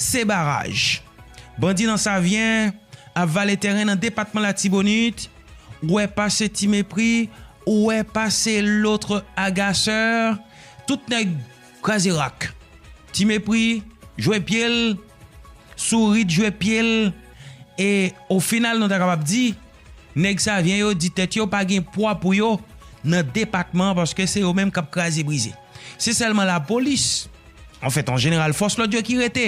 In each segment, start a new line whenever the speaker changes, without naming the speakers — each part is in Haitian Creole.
Se baraj. Bandi nan Savyen ap vale tèren nan depatman Latibonit, ou wè pase ti mepri, ou wè pase lotre agaseur, tout nèg kraze rak. Ti mepri jwe pye l, Sourit jwe pye l e o final nou ta kapab di, Nèg Savyen yo di tèt yo pa gen pwa pou yo nan depatman an paske se yo menm k ap kraze brize. Se sèlman lapolis, anfèt an jeneral fòs lòd yo ki rete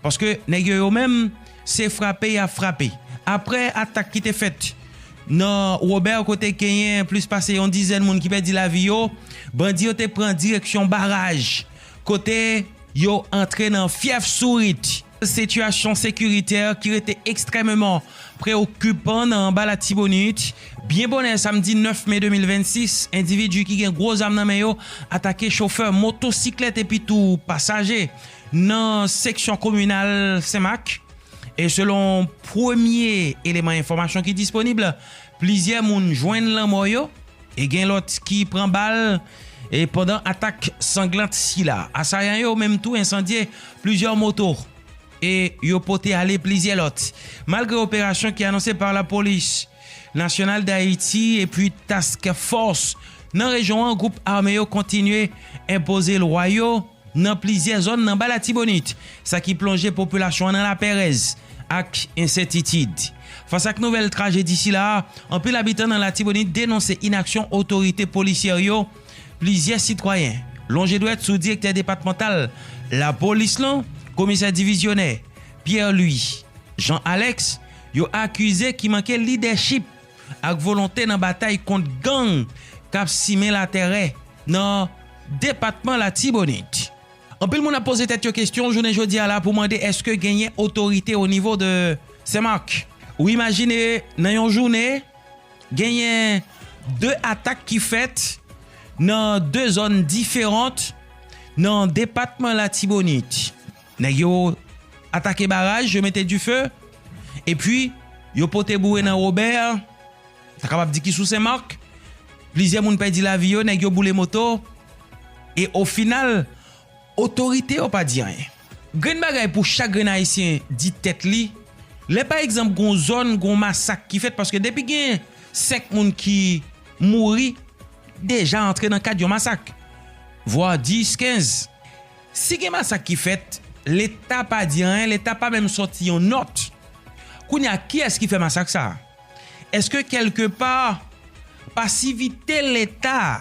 paske nèg yo yo menm se frape y ap frape. Aprè atak ki te fèt nan Wobè kote genyen plis pase yon dizèn moun ki pèdi lavi yo, bandi yo te pran direksyon baraj kote yo antre nan fyèf Sourit. Sitiyasyon sekiritè ki rete ekstrèmeman preokipan nan anba Latibonit, byen bonè samdi 9 me 2026, endividi ki gen gwo zam nan men yo atake chofè motosiklèt epi tou pasaje nan seksyon kominal Senmak e selon premye eleman enfòmasyon ki disponib, plizyè moun jwenn lanmò yo. E gen lòt ki pran bal e pandan atak sanglant sila, asayan yo menm tou ensandye plizyè moto e yo pote ale plizyè lòt. Malgre operasyon ki anonse pa lapolis Nasyonal Dayiti epi Task Fòs nan rejyon an, gwoup ame yo kontinye enpoze lwa yo. nan plizyè zòn nan Ba Latibonit, sa ki plonje popilasyon an nan lapèrèz ak ensètitid. Fas ak nouvèl trajedi sila a, anpil abitan nan Latibonit denonse inaksyon otorite polisyè yo, plizyè sitwayen lonje dwèt sou direktè depatmantal lapolis lan, komisè divizyonè Pierre Louis Jean Alex, yo akize ki manke lidèchip. ak volonte nan batay kont gang kap simen latèrè nan depatman Latibonit. Anpil moun ap poze tèt yo kestyon jounen jodi a la pou mande eske genyen otorite o nivo de Senmak? Ou imajine nan yon jounen genyen 2 atak ki fèt nan 2 zòn diferant nan depatman Latibonit. Nèg yo atake baraj, yo mete dife, epi yo pote boure nan Wobè, ou ta kapab di ki sou Senmak, plizyè moun pèdi lavi yo, nèg yo boule moto, e ofinal, otorite yo pa di anyen. Grenn bagay pou chak grenn Ayisyen di tèt li, lè pa egzanp gon zòn, gon masak ki fèt, paske depi gen 5 moun ki mouri, deja antre nan kad yon masak, vwa 10, 15. Si gen masak ki fèt, leta pa di anyen, leta pa menm sòti yon nòt. Kounye a, kiyès ki fè masak sa a? Eske kèlke pa, pasivite leta a,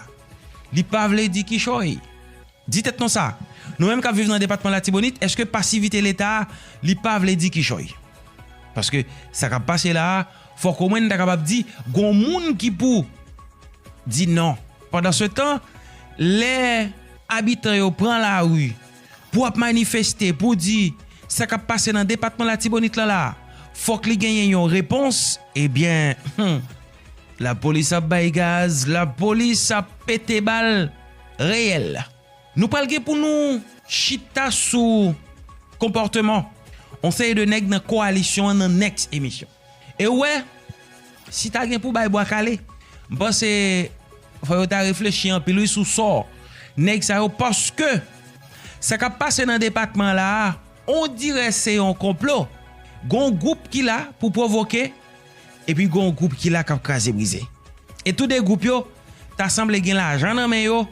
li pa vle di kichòy? Di tèt nou sa, nou menm k ap viv nan depatman Latibonit, eske pasivite leta a, li pa vle di kichòy? Paske, sa k ap pase la a, fòk omwen n ta kapab di, gon moun ki pou di non. Pandansetan, lè. Abitan yo pran lari pou ap manifeste pou di sa kap pase nan depatman Latibonit lan la fòk li genyen yon repons ebyen humm lapolis ap bay gaz lapolis ap pete bal reyèl nou pral gen pou nou chita sou konpòteman yon seri de nèg nan koalisyon an nan next emisyon. E ou wè, si ta gen pou bay bwa kale, m panse fò yo ta reflechi anpil wi sou sò nèg sa yo paske sa k ap pase nan depatman la a ondirè se yon konplo. Gon gwoup ki la pou pwovoke epi gon gwoup ki la k ap kraze brize. E tou de gwoup yo ta sanble gen lajan nan men yo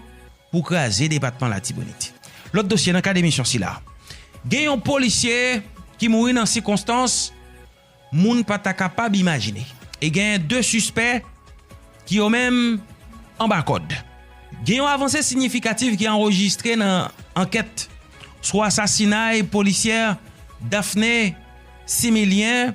pou kraze depatman Latibonit. Lòt dosye nan kad emisyon sila. Gen yon polisye ki mouri nan sikonstans moun pa ta kapab imajine. E gen 2 sispè ki yo menm anba kòd. Gen yon avanse sinyifikatif ki anrejistre nan ankèt sou asasinay polisyè Daphné Similien.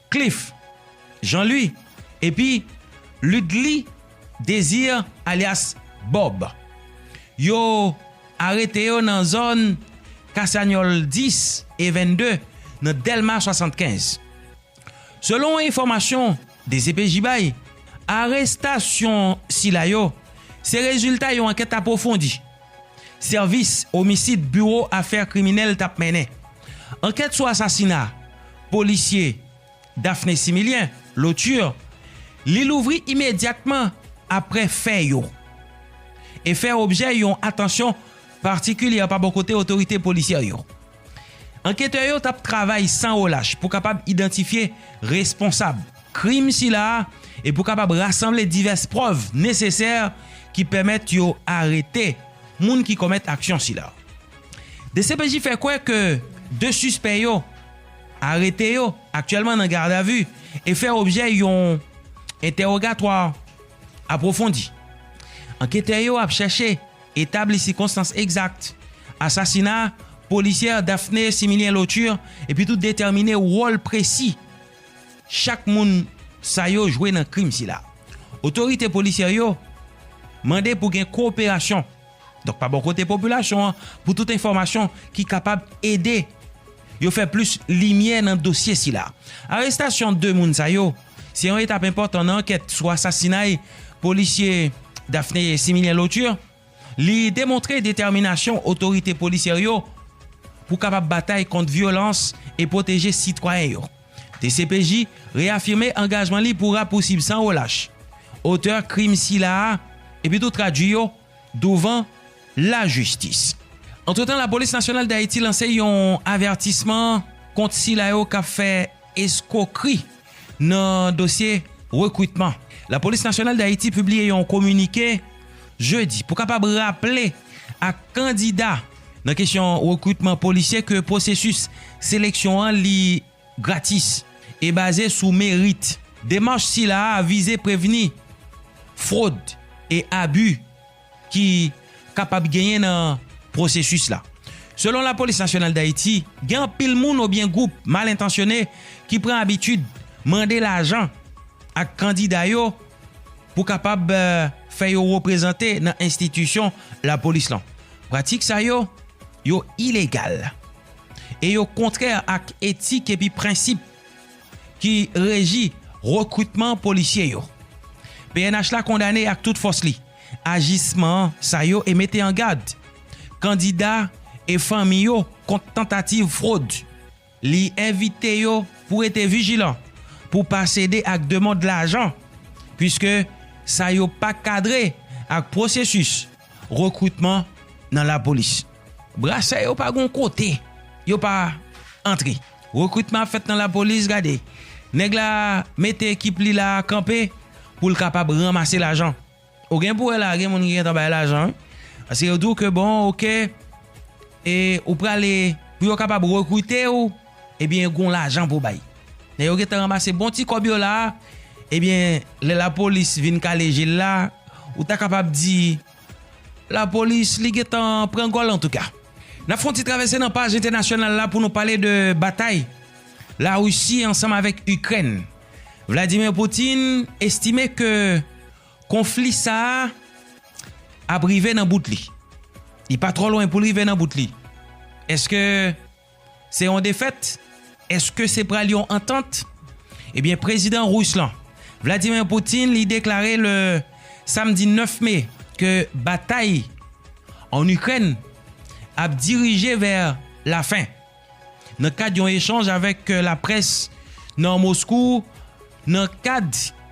Cliff, Jean Louis, epi Ludly Désir alyas Bob. Yo arete yo nan zòn Kasanyòl 10 e 22 nan Dèlma 75. Selon enfòmasyon dcpj bay, arestasyon sila yo se rezilta yon ankèt apwofondi. Sèvis omisid biwo afè kriminèl tap mennen ankèt sou asasina polisye Daphné Similien, Lauture, li louvri imedyatman aprè fè yo e fè objè yon atansyon patikilyè pa bò kote otorite polisyè yo. Anketè yo t ap travay san relach pou kapab idantifye responsab krim sila a e pou kapab rasanble divès prèv nesesè ki pèmèt yo arete moun ki komèt aksyon sila. Dcpj fè kwè ke 2 sispè yo arete yo aktyèlman nan gadavi e fè objè yon entèwogatwa apwofondi. Anketè yo ap chèche Etabli sikonstans egzak asasina polisyè Daphné Similien Lauture epitou detèmine wòl presi chak moun sa yo jwe nan krim sila. Otorite polisyè yo mande pou gen koperasyon donk pa bò kote popilasyon an pou tout enfòmasyon ki kapab ede yo fè plis limyè nan dosye sila. Arestasyon 2 moun sa yo Se yon etap enpòtan nan ankèt sou asasinay polisye Daphné Similien Lauture. Li demontre detèminasyon otorite polisyè yo pou kapab batay kont vyolans e pwoteje sitwayen yo. Dcpj reyafime angajman li pou rapousib san relach otè krim sila a epitou tradui yo douvan lajistis. Antretan Lapolis Nasyonal Dayiti lanse yon avètisman kont sila yo k ap fè eskwokri nan dosye rekritman. Lapolis Nasyonal Dayiti pibliye yon kominike jedi pou kapab raple ak kandida nan kesyon rekritman polisye ke pwosesis seleksyon an li. gratis e baze sou merit. Demach sila a vize prevni fwod e abi ki kapab genyen nan pwosesis la. Selon Lapolis Nasyonal Dayiti, gen anpil moun obyen gwoup mal entansyone ki pran abitid mande lajan ak kandida yo pou kapab fè yo reprezante nan enstitisyon lapolis lan. Pratik sa yo, yo ilegal. e yo kontrè ak etik epi prensip ki reji rekritman polisye yo. Pnh la kondane ak tout fòs li ajisman sa yo e mete an gad kandida e fanmi yo kont tantativ fwod. Li envite yo pou rete vijilan pou pa sede ak demand lajan puiske sa yo pa kadre ak pwosesis rekritman nan lapolis. Brasè yo pa gon kote yo pa antre. Rekritman ap fèt nan lapolis gade. Nèg la mete ekip li la kanpe pou l kapab ranmase lajan. Ou gen pou wè la gen moun ki gentan bay lajan wi. Paske yo di w ke bon ok e ou prale pou yo kapab rekrite w ebyen gon lajan pou w bay. Lè yo gentan ranmase bon ti kòb yo la ebyen lè lapolis vin kale je l la ou ta kapab di. Lapolis li gentan pran gòl antouka. N ap fè yon ti travèse nan paj entènasyonal la pou nou pale de batay Larisi ansanm avèk Ikrèn. Vladimir Putin estime ke konfli sa a ap rive nan bout li. Li pa twò lwen pou l rive nan bout li. Eske. Se yon defèt? Eske se pral yon antant? Ebyen prezidan Rus lan, Vladimir Putin li deklare le samdi 9 me ke batay an Ikrèn ap dirije vè la fen. Nan kad yon echanj avèk laprès nan Moskou nan kad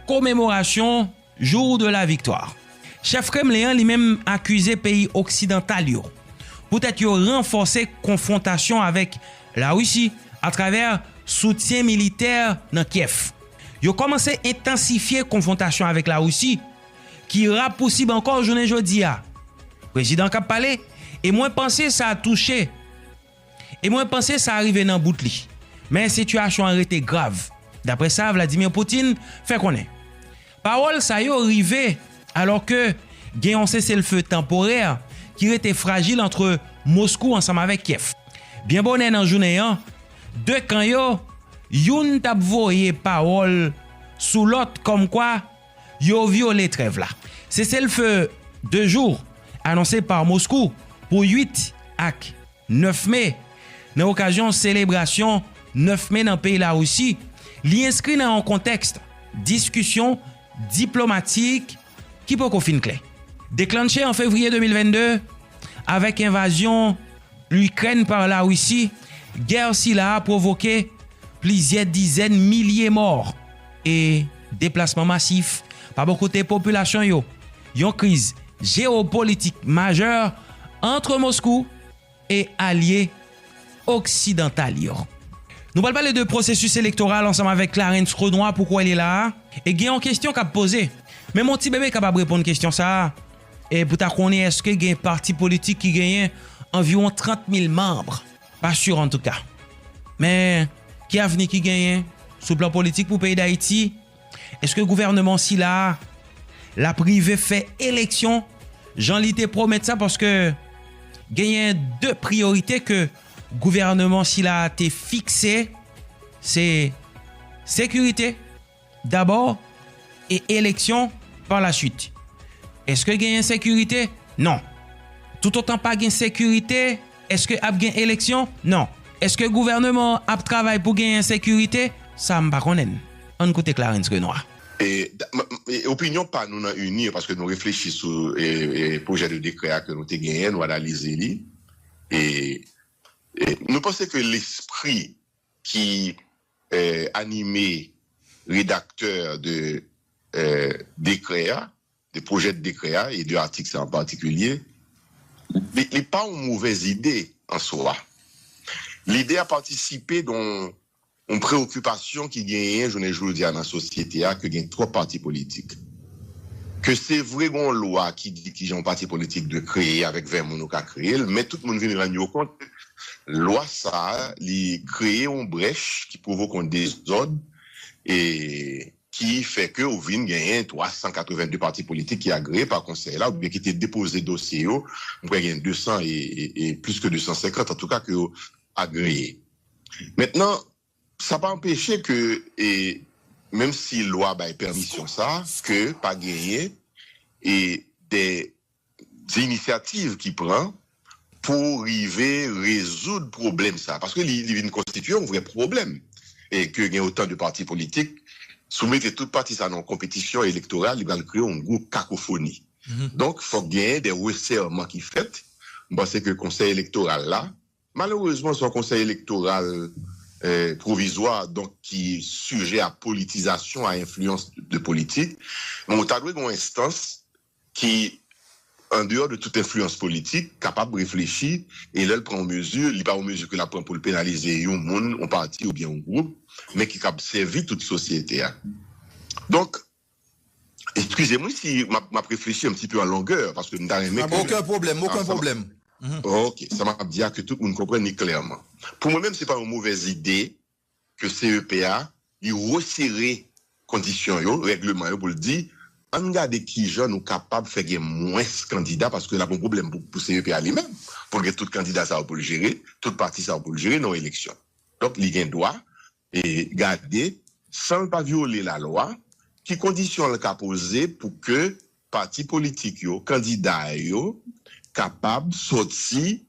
komemorasyon, Jour de la victoire. Chèf Kremlen an li menm akize peyi oksidantal yo poutèt yo ranfòse konfwontasyon avèk Larisi atravè soutyen militè nan Kyèv. Yo kòmanse entansifye konfwontasyon avèk Larisi ki rapousib ankò jounen jodi a, prezidan k ap pale, e mwen panse sa touche. E mwen panse sa rive nan bout li. Men sitiyasyon an rete grav, daprè sa Vladimir Putin fè konnen. Pawòl sa yo rive alò ke gen yon seselfe tanporè ki rete frajil antre Moskou ansanm avèk Kyèv. Byen bonè nan jounen an, 2 kan yo, youn t ap voye pawòl sou lòt kòmkwa, Yo vyole trèv la. Seselfe 2 jou anonse pa Moskou pou 8 ak 9 me nan okazyon selebrasyon 9 me nan peyi Larisi li enskri nan yon kontèks diskisyon diplomatik ki poko fin klè. Deklannche an fevriye 2022 avèk envazyon Ikrèn pa Larisi, gè sila a pwovoke plizyè dizèn milye mò e deplasman masif pa bò kote popilasyon yo, yon kriz jewopolitik majè antre Moskou e alye oksidantal yo. Nou pral pale de pwosesis elektoral ansanm avèk Clarens Renois, poukò li la a? E gen yon kestyon kap poze, menm yon ti bebe kapab reponn kestyon sa a, E pou ta konnen eske gen pati politik ki genyen anviwon 30 mil manbre. Pa sur antouka. Men, ki avni ki genyen sou plan politik pou peyi Dayiti? Eske gouvèneman sila a l ap rive fè eleksyon jan li te pwomèt sa? Paske genyen 2 priyorite ke gouvèneman sila a te fikse, se sekirite. D'abord et eleksyon par la suite. Eske gen ensekirite? Non. Toutotan pa gen sekirite, eske ap gen eleksyon? Non. Eske gouvèneman an ap travay pou gen ensekirite? Sa m pa konnen. Ann koute Clarens Renois.
Opinyon pa nou nan UNIR, paske nou reflechi sou pwojè de dekrè a ke nou te genyen, nou analize li. Nou panse ke lespri ki anime redaktè de dekrè a, de pwojè dekrè a e de atik sa an patikilye, li pa yon movèz ide an swa. Lide a patisipe de yon preokipasyon ki genyen jounen jodi a nan sosyete a ke gen twòp pati politik. Ke se vre gen yon lwa ki di kijan yon pati politik dwe kreye, avèk 20 moun ou ka kreye l, men tout moun vin rann yo kont ke Lwa sa li kreye yon brèch ki pwovoke yon dezòd e ki fè ke ou vin genyen 382 pati politik ki agreye pa konsèy la oubyen ki te depoze dosye yo, m kwè gen 200 e plis ke 250 antouka ke yo agreye. Mentnan, sa pa anpeche ke e menm si lwa bay pèmisyon sa ke pa genyen e de Se inisyativ ki pran pou rive rezoud pwoblèm sa a, paske li vin konstitye yon vrè pwoblèm e ke gen otan de pati politik, si w mete tout pati sa nan yon konpetisyon elektoral, li pral kreye yon gwo kakofoni. Donk, fòk genyen de resèman ki fèt. M panse ke konsèy elektoral la, malerezman se yon konsèy elektoral pwovizwa, donk ki sijè a politizasyon, a enfliyans de politik, men ou ta dwe gen yon enstans ki andeyò de tout enfliyans politik, kapab reflechi e lè l pran yon mezi, li pa yon mezi ke l ap pran pou l penalize yon moun, yon pati oubyen yon gwoup, men ki kab sèvi tout sosyete a. Donk, eskize m wi si m ap reflechi an ti peu an longè, paske m ta renmen ke. Oken pwoblèm, oken
pwoblèm.
Oke. Sa m ap di a ke tout moun konprann li klèman. Pou mwen menm se pa yon movèz ide ke CEP a, li resere kondisyon yo, règleman yo pou l di ann gade kijan nou kapab fè gen mwens kandida paske l ap yon pwoblèm pou CEP a li menm pou l gen tout kandida sa yo pou l jere, tout pati sa yo pou l jere nan yon eleksyon. Donk li gen dwa gade san l pa vyole lalwa ki kondisyon l ka poze pou ke pati politik yo, kandida yo kapab soti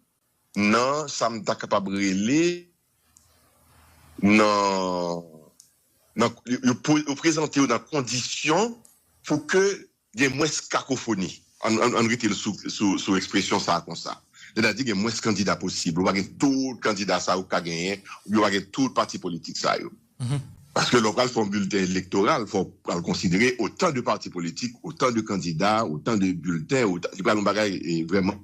nan sa m ta kapab rele nan nan yo yo prezante yo nan kondisyon pou ke gen mwens kakofoni an an rete l sou sou sou ekspresyon sa konsa sètadi gen mwens kandida posib ou pa gen tout kandida sa yo ka genyen oubyen ou pa gen tout pati politik sa yo paske lè w pral fè yon bilten elektoral fò w pral konsidere otan de pati politik otan de kandida otan de bilten li pral yon bagay vrèman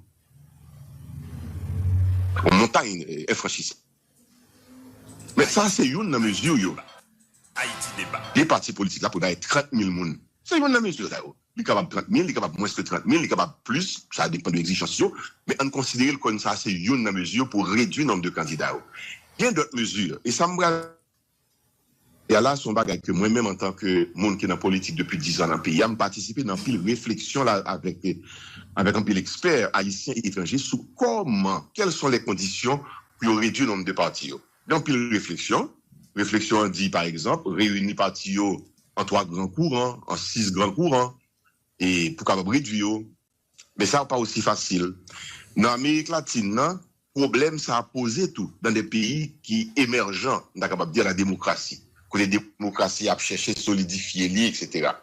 Yon montay enfranchisab. Men sa se youn nan mezi yo. Ayiti Deba. Li pati politik la pou bay 30 mil moun. Se youn nan mezi sa yo. Li kapab 30 mil, li kapab mwens ke 30 mil, li kapab plis, sa depan de egzijans yo. Men ann konsidere l kon sa se youn nan mezi yo pou redwi nonb de kandida yo. Gen dòt mezi, e sa m pral. Y'a la se yon bagay ke mwen menm antan ke moun ki nan politik depi 10 an nan peyi a, m patisipe nan anpil refleksyon la avèk avèk anpil ekspè ayisyen e etranje sou kòman quelles sont les conditions pou yo redwi nonb de pati yo. Gen anpil refleksyon, refleksyon an di pa egzanp reyini pati yo an 3 gran kouran, an 6 gran kouran e pou kapab redwi yo. Men sa pa osi fasil. Nan Amerik Latin nan, pwoblèm sa a poze tou nan de peyi ki emèjan, m ta kapab di a la demokrasi, kote demokrasi a ap chèche solidifye li, eksetera.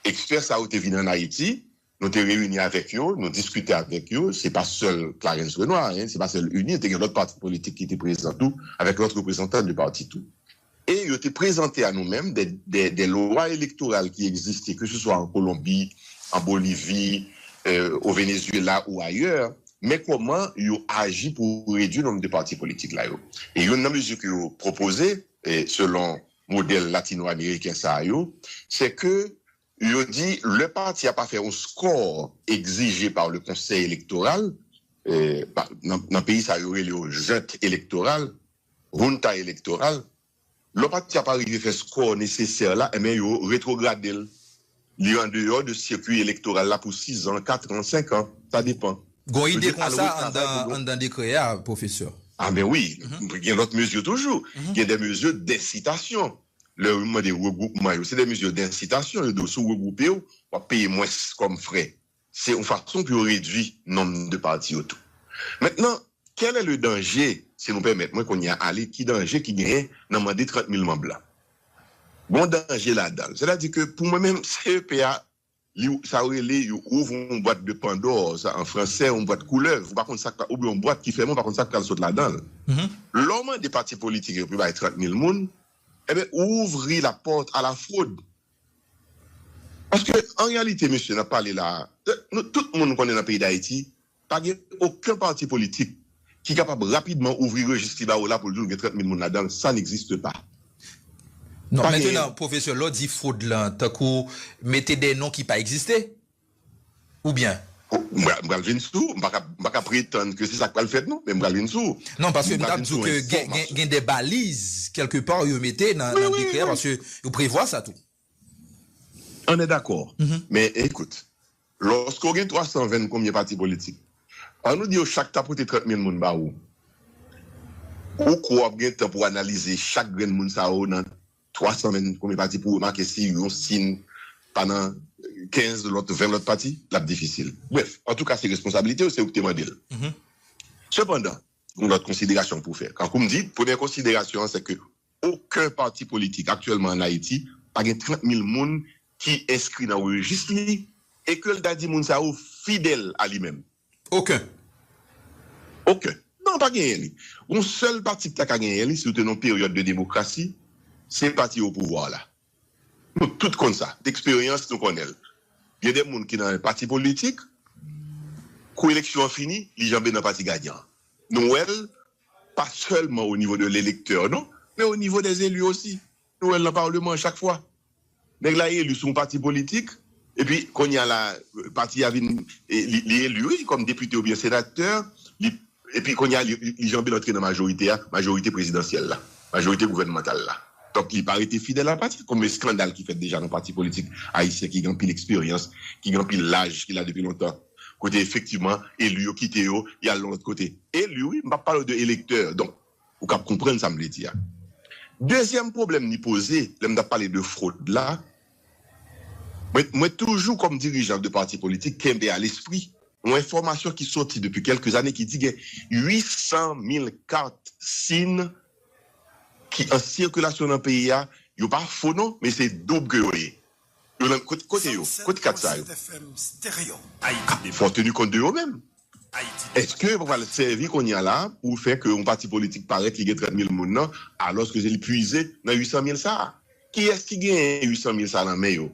Ekspè sa yo te vin ann Ayiti, nou te reyini avèk yo, nou diskite avèk yo, se pa sèl Clarens Renois, se pa sèl UNIR, te gen lòt pati politik ki te prezan tou, avèk lòt reprezantan de pati tou. E yo te prezante a nou menm de lwa elektoral ki egziste ke se swa an Kolonbi, an Bolivi, o Venezyela ou ayè, men kòman yo aji pou redui nonm de pati politik la yo. E youn nan mezi ke yo pwopoze, selon modèl latino-ameriken sa yo, se ke Yo di lè pati a pa fè yon skò egzije pa le konsèy elektoral, nan peyi sa yo rele yo junte elektoral, Junta Electoral, lò pati a pa rive fè skò nesesè la enben yo retwograde l, li an deyò de sikwi elektoral la pou sizan, katran, senkan, sa depan. Gon ide konsa
anndan dekrè a, pwofesè? Anben wi,
gen lòt mezi toujou, gen de mezi desitasyon. Lè yo mande regwoupman yo, se de mezi de ensitasyon yo di w si w regwoupe w, w ap peye mwens kòm frè. Se yon fason pou yo redui nonm de pati yo tou. Mentnan, kèl è le danje, si nou pèmèt mwen kounye a ale ki danje ki genyen nan mande 30 mil manb la? Gon danje ladan l. Sètadi ke pou mwen menm CEP a Li sa yo rele yo ouvre yon bwat de pandore sa an fransè yon bwat koulèv ou pa konn sak oubyen yon bwat ki fèmen ou pa konn sak pral sot ladanl lè w mande pati politik yo pou yo bay 30 mil moun enben ou ouvri la pòt a la frod paske an reyalite mesye nap pale la a nou tout moun konnen nan peyi dayiti Pa gen oken pati politik ki kapab rapidman ouvri rejis li ba ou la pou l di w gen 30 mil moun ladan l, sa n'existe pas.
Non, mentenan, pwofesè, lè w di fwod lan, tankou mete de non ki pa egziste? Oubyen? M pral vin
sou ou, m pa ka pretann ke se sa k pral fèt non, men m pral vin sou ou. Non, paske m ta di w
ke gen de baliz kèlke pa yo mete nan dekrè a, paske yo prevwa sa tou.
Anne dakò. Men ekout, lòske w gen 320 konbyen pati politik, an nou di yo chak ta pote 30 mil moun ba ou, ou kwè w ap gen tan pou w analize chak grenn moun sa yo nan 320 konbyen pati pou w remake si yon si n pa nan 15 lòt, 20 lòt pati? L ap difisil. Brèf, antouka se responsabilite w, se ou ki te mande l. Sepandan, gen lòt konsiderasyon pou w fè. Tankou m di, premyè konsiderasyon an sèke Oken pati politik aktyèlman an Ayiti pa gen 30 mil moun ki enskri nan rejis li e ke l ta di moun sa yo fidèl a li menm. Oken.
Oken.
Non, pa genyen li. Gon sèl pati ki ta ka genyen li si nou te nan yon peryòd de demokrasi, se pati opouvwa la. Nou tout konn sa. Deksperyans nou konnen l. Gen de moun ki nan yon pati politik, kou eleksyon an fini, li janbe nan pati gayan an. Nou wè l Pa sèlman o nivo de lelektè non, men o nivo dè zelu osi. Nou wè l nan Parleman chak fwa. Nèg la elu sou yon pati politik, epi kounye a la pati a vin, li elu wi kòm depite oubyen senatè, li, epi kounye a li janbe l antre nan majorite a, majorite prezidansyèl la, majorite gouvènmantal la. Donk li pa rete fidèl a pati. Konbyen skandal ki fèt deja nan pati politik ayisyen ki gen anpil eksperyans, ki gen anpil laj, ki la depi lontan? Kote efektivman elu yo kite yo yal yon lot kote. Elu wi, m pap pale w de elektè, donk ou kab konprann sa m vle di a. Dezyèm pwoblèm li poze, lè m tap pale de fwod la, mwen mwen toujou kòm dirijan de pati politik kenbe a lespri yon enfòmasyon ki soti depi kèlke zane ki di gen 800 mil kat sim ki an sikilasyon nan peyi a, yo pa fo non, men se doub ke yo ye. Yo nan kote yo? Kot kat sa yo? Fò teni kont de yo menm. Eske yo pa pral sèvi konya la pou fè ke yon pati politik parèt li gen 30 mil moun nan alòske se li pwize nan 800 mil sa a? Kiyès ki gen 800 mil sa a nan men yo?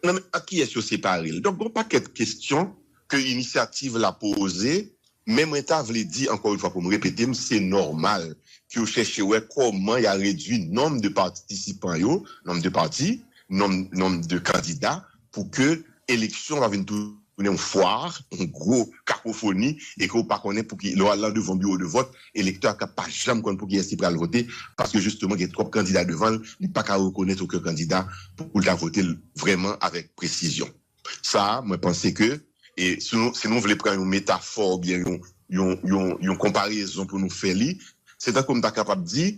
Nan men ak kiyès yo separe l? Donk gon pakèt kestyon ke inisyativ la poze Men mwen ta vle di ankò yon fwa pou m repete m se nòmal ke yo chèche wè kòman ya redwi nonb de patisipan yo, nonb de pati, nonb nonb de kandida pou ke eleksyon pa vin tounen yon fwar, yon gwo kakofoni e ke w pa konnen pou ki lè w al lan devan biwo de vòt elektè a kab pa janm konn pou kiyès li pral vote paske jisteman gen twòp kandida devan l li pa ka rekonèt oken kandida pou l ta vote l vrèman avèk presizyon. Sa mwen panse ke e si nou si nou vle pran yon metafò oubyen yon yon yon yon konparezon pou nou fè li, se tankou m ta kapab di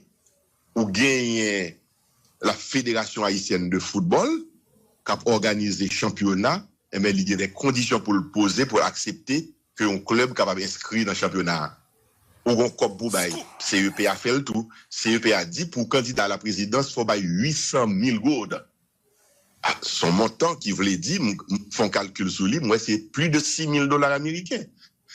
ou genyen la Fédération Haïtienne de Football k ap òganize chanpyona enben li gen dè kondisyon pou l poze pou l aksepte ke yon klèb kapab enskri nan chanpyona a. Ou gen yon kòb pou w bay. CEPA fè l tou. CEPA di pou kandida a la prezidans fò w bay 800 mil gourd. S on montan ki vle di, m fè yon kalkil sou li, m wè se pli de 6 mil dola ameriken.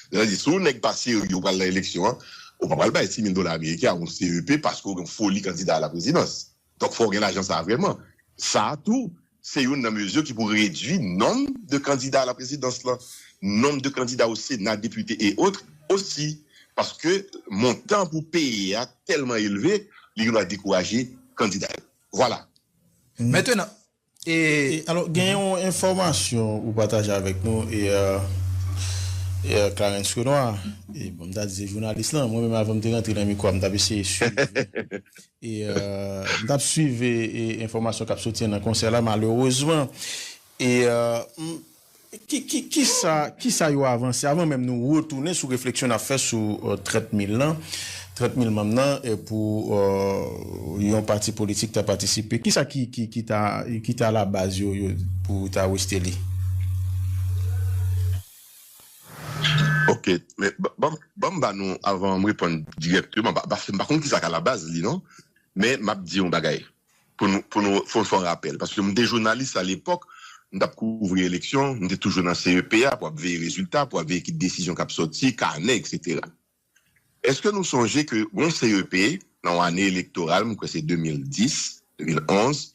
Sa vle di, si yon nèg pa serye ou pral nan eleksyon an, ou pa pral bay 6 mil dola ameriken a yon CEP paske ou gen yon foli kandida a la prezidans. Donk fò w gen lajan sa a vrèman. Sa a tou, se youn nan mezi ki pou redui nonm de kandida a la prezidans lan, nonm de kandida o sena, depite e otre osi. Paske montan pou peye a tèlman elve, li gendwa dekouraje kandida yo. Vwala. Mentenan,
e.
Alò, gen yon enfòmasyon ou pataje avèk nou e. Clarens Renois, e bon m ta di se jounalis lan, mwen menm avan m te rantre nan mikwo a m t ap eseye swiv e. M t ap swiv e enfòmasyon k ap soti an nan konsèy la malerezman e. Ki sa yo avanse? Avan menm nou retounen sou refleksyon n ap fè sou 30 mil lan, 30 mil manm nan pou yon pati politik ta patisipe, ki sa ki ta alabaz yo pou ta rejte li?
Ok, men ban m ba nou avan m reponn dirèkteman, paske m pa konn ki sa k alabaz li non, men m ap di yon bagay. pou nou pou nou fè yon rapèl paske mwen te jounalis alepòk mwen tap kouvri eleksyon mwen te toujou nan CEP a pou ap veye rezilta pou ap veye ki desizyon kap sòti kanè eksetera èske nou sonje ke gon CEP nan yon ane elektoral mwen kwè se 2010 2011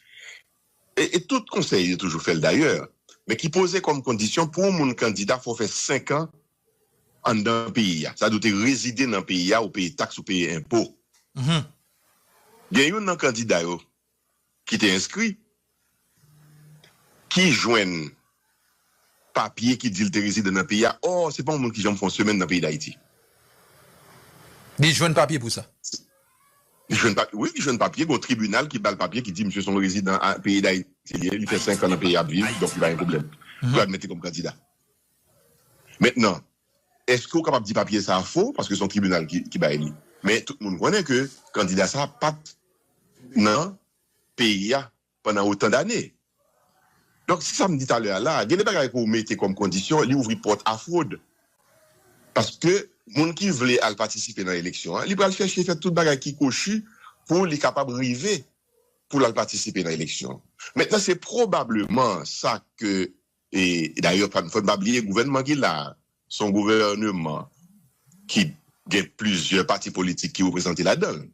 e tout konsèy yo toujou fèl dayè men ki poze kòm kondisyon pou yon moun kandida fò fè 5 an anndan peyi a. Sa vle di ou te rezide nan peyi a, ou peye taks, ou peye enpo. Gen youn nan kandida yo ki te enskri ki jwenn papye ki di l te rezidan nan peyi a. Ò, se pa yon moun ki janm fè yon semèn nan peyi Dayiti.
Li jwenn papye pou sa? Li jwenn
papye, wi. Li jwenn papye. Gen yon tribinal ki ba l papye ki di misye se yon rezidan peyi Dayiti li ye. Li fè senkan nan peyi a ap viv. Donk li pa gen pwoblèm pou yo admèt li kòm kandida. Mentnan, eske ou kapab di papye sa a fo paske se yon tribinal ki bay li? Men tout moun konnen ke kandida sa a pa t nan peyi a pandan otan dane. Donk se sa m di talè a la a, gen de bagay ke w mete kòm kondisyon, li ouvri pòt a fwod. Paske moun ki vle al patisipe nan eleksyon an, li pral chèche fè tout bagay ki kochi pou li kapab rive pou l al patisipe nan eleksyon. Mentnan se pwobableman sa ke E dayè fò n pa bliye gouvènman ki la a se yon gouvèneman ki gen plizyè pati politik ki reprezante ladan l.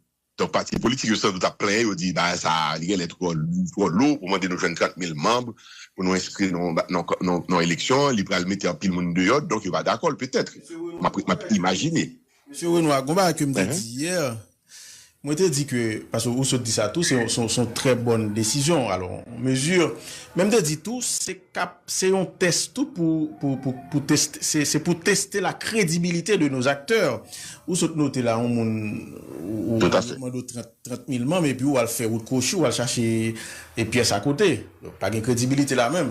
Donk pati politik yo san dout ap plenyen, yo di bagay sa a li genlè twò lou pou mande nou jwenn 30 mil manb pou nou enskri nou nan eleksyon, li pral mete anpil moun deyò donk yo pa dakò l petèt, m ap imajine. Mesye Renois,
gon bagay ke m te di yè, mwen te di ke, paske ou sot di sa tou, se yon trè bòn desizyon, alò, mezi, men m te di tou, se kap, se yon tès tou pou, pou, pou, pou teste, se, se pou teste la kredibilite de nos acteurs. Ou sot note la yon moun, ou, ou mande w 30, 30 mil manm epi ou al fè wout kwochi, ou al chache pyès akote. Pa gen kredibilite la menm.